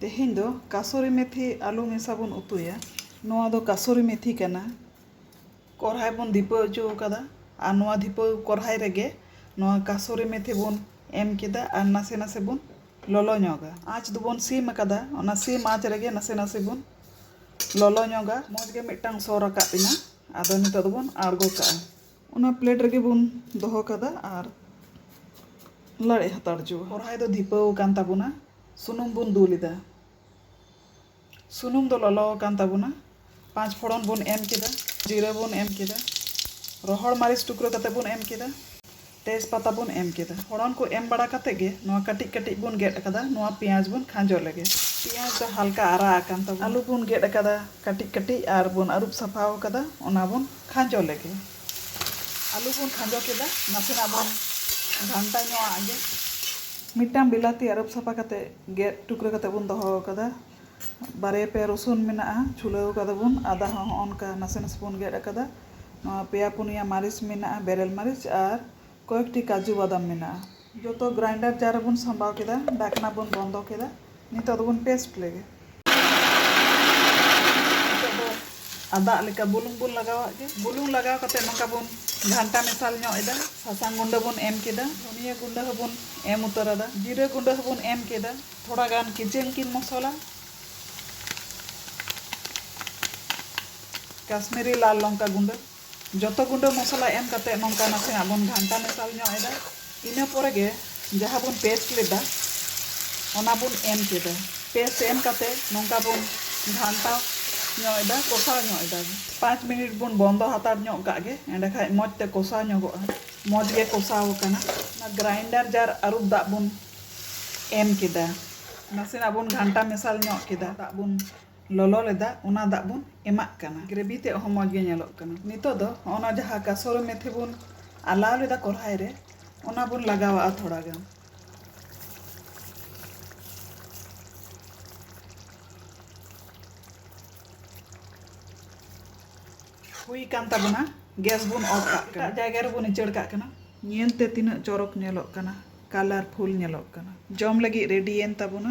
ᱛᱮᱦᱮᱧ ᱫᱚ ᱠᱟᱥᱚᱨᱤ ᱢᱮᱛᱷᱤ ᱟᱹᱞᱩ ᱢᱮᱥᱟ ᱵᱚᱱ ᱩᱛᱩᱭᱟ ᱱᱚᱣᱟ ᱫᱚ ᱠᱟᱥᱚᱨᱤ ᱢᱮᱛᱷᱤ ᱠᱟᱱᱟ ᱠᱚᱨᱦᱟᱭ ᱵᱚᱱ ᱫᱷᱤᱯᱟᱹᱣ ᱚᱪᱚ ᱟᱠᱟᱫᱟ ᱟᱨ ᱱᱚᱣᱟ ᱫᱷᱤᱯᱟᱹᱣ ᱠᱚᱨᱦᱟᱭ ᱨᱮᱜᱮ ᱱᱚᱣᱟ ᱠᱟᱥᱚᱨᱤ ᱢᱮᱛᱷᱤ ᱵᱚᱱ ᱮᱢ ᱠᱮᱫᱟ ᱟᱨ ᱱᱟᱥᱮ ᱱᱟᱥᱮ ᱵᱚᱱ ᱞᱚᱞᱚ ᱧᱚᱜᱟ ᱟᱸᱪ ᱫᱚᱵᱚᱱ ᱥᱤᱢ ᱟᱠᱟᱫᱟ ᱚᱱᱟ ᱥᱤᱢ ᱟᱸᱪ ᱨᱮᱜᱮ ᱱᱟᱥᱮ ᱱᱟᱥᱮ ᱵᱚᱱ ᱞᱚᱞᱚ ᱧᱚᱜᱟ ᱢᱚᱡᱽ ᱜᱮ ᱢᱤᱫᱴᱟᱝ ᱥᱚ ᱨᱟᱠᱟᱵ ᱮᱱᱟ ᱟᱫᱚ ᱱᱤᱛᱚᱜ ᱫᱚᱵᱚᱱ ᱟᱬᱜᱚ ᱠᱟᱜᱼᱟ ᱚᱱᱟ ᱯᱞᱮᱴ ᱨᱮᱜᱮ ᱵᱚᱱ ᱫᱚᱦᱚ ᱠᱟᱫᱟ ᱟᱨ ᱞᱟᱲᱮᱡ ᱦᱟᱛᱟᱲ ᱦᱚᱪᱚᱣᱟ ᱠᱚᱲᱦᱟᱭ ᱫᱚ ᱫᱷᱤᱯᱟᱹᱣ ᱟᱠᱟᱱ ᱛᱟᱵᱚᱱᱟ ᱥᱩᱱᱩᱢ ᱵᱚᱱ ᱫᱩᱞ ᱮᱫᱟ ᱥᱩᱱᱩᱢ ᱫᱚ ᱞᱚᱞᱚ ᱟᱠᱟᱱ ᱛᱟᱵᱚᱱᱟ ᱯᱟᱸᱪ ᱯᱷᱚᱲᱚᱱ ᱵᱚᱱ ᱮᱢ ᱠᱮᱫᱟ ᱡᱤᱨᱟᱹ ᱵᱚᱱ ᱮᱢ ᱠᱮᱫᱟ ᱨᱚᱦᱚᱲ ᱢᱟᱹᱨᱤᱪ ᱴᱩᱠᱨᱟᱹ ᱠᱟᱛᱮ ᱵᱚᱱ ᱮᱢ ᱠᱮᱫᱟ ᱛᱮᱡᱽ ᱯᱟᱛᱟ ᱵᱚᱱ ᱮᱢ ᱠᱮᱫᱟ ᱯᱷᱚᱲᱚᱱ ᱠᱚ ᱮᱢ ᱵᱟᱲᱟ ᱠᱟᱛᱮ ᱜᱮ ᱱᱚᱣᱟ ᱠᱟᱹᱴᱤᱡ ᱠᱟᱹᱴᱤᱡ ᱵᱚᱱ ᱜᱮᱫ ᱟᱠᱟᱫᱟ ᱱᱚᱣᱟ ᱯᱮᱸᱭᱟᱡᱽ ᱵᱚᱱ ᱠᱷᱟᱸᱡᱚ ᱞᱮᱜᱮ ᱯᱮᱸᱭᱟᱡᱽ ᱫᱚ ᱦᱟᱞᱠᱟ ᱟᱨᱟᱜ ᱟᱠᱟᱱ ᱛᱟᱵᱚᱱᱟ ᱟᱹᱞᱩ ᱵᱚᱱ ᱜᱮᱫ ᱟᱠᱟᱫᱟ ᱠᱟᱹᱴᱤᱡ ᱠᱟᱹᱴᱤᱡ ᱟᱨ ᱵᱚᱱ ᱟᱹᱨᱩᱵ ᱥᱟᱯᱷᱟ ᱟᱠᱟᱫᱟ ᱚᱱᱟ ᱵᱚᱱ ᱠᱷᱟᱸᱡᱚ ᱞᱮᱜᱮ᱾ ᱟᱹᱞᱩ ᱵᱚᱱ ᱠᱷᱟᱸᱡᱚ ᱠᱮᱫᱟ᱾ ᱱᱟᱥᱮᱱᱟᱜ ᱵᱚᱱ ᱜᱷᱟᱱᱴᱟ ᱧᱚᱜ ᱟᱜ ᱜᱮ᱾ ᱢᱤᱫᱴᱟᱝ ᱵᱤᱞᱟᱹᱛᱤ ᱟᱹᱨᱩᱵ ᱥᱟᱯᱷᱟ ᱠᱟᱛᱮ ᱜᱮᱫ ᱴᱩᱠᱨᱟᱹ ᱠᱟᱛᱮ ᱵᱚᱱ ᱫᱚᱦᱚ ᱟᱠᱟᱫᱟ᱾ ᱵᱟᱨᱭᱟ ᱯᱮᱭᱟ ᱨᱚᱥᱩᱱ ᱢᱮᱱᱟᱜᱼᱟ ᱪᱷᱩᱞᱟᱹᱣ ᱟᱠᱟᱫᱟ ᱵᱚᱱ᱾ ᱟᱫᱟ ᱦᱚᱸ ᱦᱚᱸᱜᱼᱚ ᱱᱚᱝᱠᱟ ᱱᱟᱥᱮ ᱱᱟᱥᱮ ᱵᱚᱱ ᱜᱮᱫ ᱟᱠᱟᱫᱟ᱾ ᱱᱚᱣᱟ ᱯᱮᱭᱟ ᱯᱩᱱᱭᱟ ᱢᱟᱹᱨᱤᱪ ᱢᱮᱱᱟᱜᱼᱟ ᱵᱮᱨᱮᱞ ᱢᱟᱹᱨᱤᱪ ᱟᱨ ᱠᱚᱭᱮᱠᱴᱤ ᱠᱟᱡᱩ ᱵᱟᱫᱟᱢ ᱢᱮᱱᱟᱜᱼᱟ᱾ ᱡᱚᱛᱚ ᱜᱨᱟᱭᱤᱱᱰᱟᱨ ᱡᱟᱨ ᱨᱮᱵᱚᱱ ᱥᱟᱢᱵᱟᱣ ᱠᱮᱫᱟ᱾ ᱰᱟᱠᱱᱟ ᱵᱚᱱ ᱵᱚᱱᱫᱚ ᱠᱮᱫᱟ᱾ ᱱᱤᱛᱚᱜ ᱫᱚᱵᱚᱱ ᱯᱮᱥᱴ ᱞᱮᱜᱮ᱾ ᱱᱤᱛᱚᱜ ᱫᱚ ᱟᱫᱟᱜ ᱞᱮᱠᱟ ᱵᱩᱞᱩᱝ ᱵᱚᱱ ᱞᱟᱜᱟᱣᱟᱜ ᱜᱮ᱾ ᱵᱩᱞᱩᱝ ᱞᱟᱜᱟᱣ ᱠᱟᱛᱮ ᱱᱚᱝᱠᱟ ᱵᱚᱱ ᱜᱷᱟᱱᱴᱟ ᱢᱮᱥᱟᱞ ᱧᱚᱜ ᱮᱫᱟ᱾ ᱥᱟᱥᱟᱝ ᱜᱩᱸᱰᱟᱹ ᱵᱚᱱ ᱮᱢ ᱠᱮᱫᱟ᱾ ᱫᱷᱚᱱᱤᱭᱟᱹ ᱜᱩᱸᱰᱟᱹ ᱦᱚᱸ ᱵᱚᱱ ᱮᱢ ᱩᱛᱟᱹᱨ ᱟᱫᱟ᱾ ᱡᱤᱨᱟᱹ ᱜᱩᱸᱰᱟᱹ ᱦᱚᱸ ᱵᱚᱱ ᱮᱢ ᱠᱮᱫᱟ᱾ ᱛᱷᱚᱲᱟ ᱜᱟᱱ ᱠᱤᱪᱮᱱ ᱠᱤᱝ ᱢᱚᱥᱚᱞᱟ᱾ ᱠᱟᱥᱢᱤᱨᱤ ᱞᱟᱞ ᱞᱚᱝᱠᱟ ᱜᱩᱸᱰᱟᱹ᱾ ᱡᱚᱛᱚ ᱜᱩᱸᱰᱟᱹ ᱢᱚᱥᱞᱟ ᱮᱢ ᱠᱟᱛᱮ ᱱᱚᱝᱠᱟ ᱱᱟᱥᱮᱱᱟᱜ ᱵᱚᱱ ᱜᱷᱟᱱᱴᱟ ᱢᱮᱥᱟᱞ ᱧᱚᱜ ᱮᱫᱟ ᱤᱱᱟᱹ ᱯᱚᱨᱮ ᱜᱮ ᱡᱟᱦᱟᱸ ᱵᱚᱱ ᱯᱮᱥᱴ ᱞᱮᱫᱟ ᱚᱱᱟ ᱵᱚᱱ ᱮᱢ ᱠᱮᱫᱟ ᱯᱮᱥᱴ ᱮᱢ ᱠᱟᱛᱮ ᱱᱚᱝᱠᱟ ᱵᱚᱱ ᱜᱷᱟᱱᱴᱟ ᱧᱚᱜ ᱮᱫᱟ ᱠᱚᱥᱟᱣ ᱧᱚᱜ ᱮᱫᱟ ᱯᱟᱸᱪ ᱢᱤᱱᱤᱴ ᱵᱚᱱ ᱵᱚᱱᱫᱚ ᱦᱟᱛᱟᱲ ᱧᱚᱜ ᱠᱟᱜ ᱜᱮ ᱮᱸᱰᱮ ᱠᱷᱟᱱ ᱢᱚᱡᱽ ᱛᱮ ᱠᱚᱥᱟᱣ ᱧᱚᱜᱚᱜᱼᱟ ᱢᱚᱡᱽ ᱜᱮ ᱠᱚᱥᱟᱣ ᱟᱠᱟᱱᱟ ᱚᱱᱟ ᱜᱨᱟᱭᱤᱱᱰᱟᱨ ᱡᱟᱨ ᱟᱹᱨᱩᱵ ᱫᱟᱜ ᱵᱚᱱ ᱮᱢ ᱠᱮᱫᱟ ᱱᱟᱥᱮᱱᱟᱜ ᱵᱚᱱ ᱜᱷᱟᱱᱴᱟ ᱢᱮᱥᱟᱞ ᱧᱚᱜ ᱠᱮᱫᱟ ᱫᱟᱜ ᱵᱚᱱ ᱞᱚᱞᱚ ᱞᱮᱫᱟ ᱚᱱᱟ ᱫᱟᱜ ᱵᱚᱱ ᱮᱢᱟᱜ ᱠᱟᱱᱟ ᱜᱨᱮᱵᱷᱤ ᱛᱮᱫ ᱦᱚᱸ ᱢᱚᱡᱽ ᱜᱮ ᱧᱮᱞᱚᱜ ᱠᱟᱱᱟ ᱱᱤᱛᱚᱜ ᱫᱚ ᱦᱚᱸᱜᱼᱚ ᱱᱟ ᱡᱟᱦᱟᱸ ᱠᱟᱥᱚᱨᱤ ᱢᱮᱛᱷᱤ ᱵᱚᱱ ᱟᱞᱟᱣ ᱞᱮᱫᱟ ᱠᱚᱲᱦᱟᱭ ᱨᱮ ᱚᱱᱟ ᱵᱚᱱ ᱞᱟᱜᱟᱣᱟᱜᱼᱟ ᱛᱷᱚᱲᱟ ᱜᱟᱱ ᱦᱩᱭ ᱠᱟᱱ ᱛᱟᱵᱚᱱᱟ ᱜᱮᱥ ᱵᱚᱱ ᱚᱯᱷ ᱠᱟᱜ ᱠᱟᱱᱟ ᱡᱟᱭᱜᱟ ᱨᱮᱵᱚᱱ ᱤᱪᱟᱹᱲ ᱠᱟᱜ ᱠᱟᱱᱟ ᱧᱮᱞ ᱛᱮ ᱛᱤᱱᱟᱹᱜ ᱪᱚᱨᱚᱠ ᱧᱮᱞᱚᱜ ᱠᱟᱱᱟ ᱠᱟᱞᱟᱨᱯᱷᱩᱞ ᱧᱮᱞᱚᱜ ᱠᱟᱱᱟ ᱡᱚᱢ ᱞᱟᱹᱜᱤᱫ ᱨᱮᱰᱤᱭᱮᱱ ᱛᱟᱵᱚᱱᱟ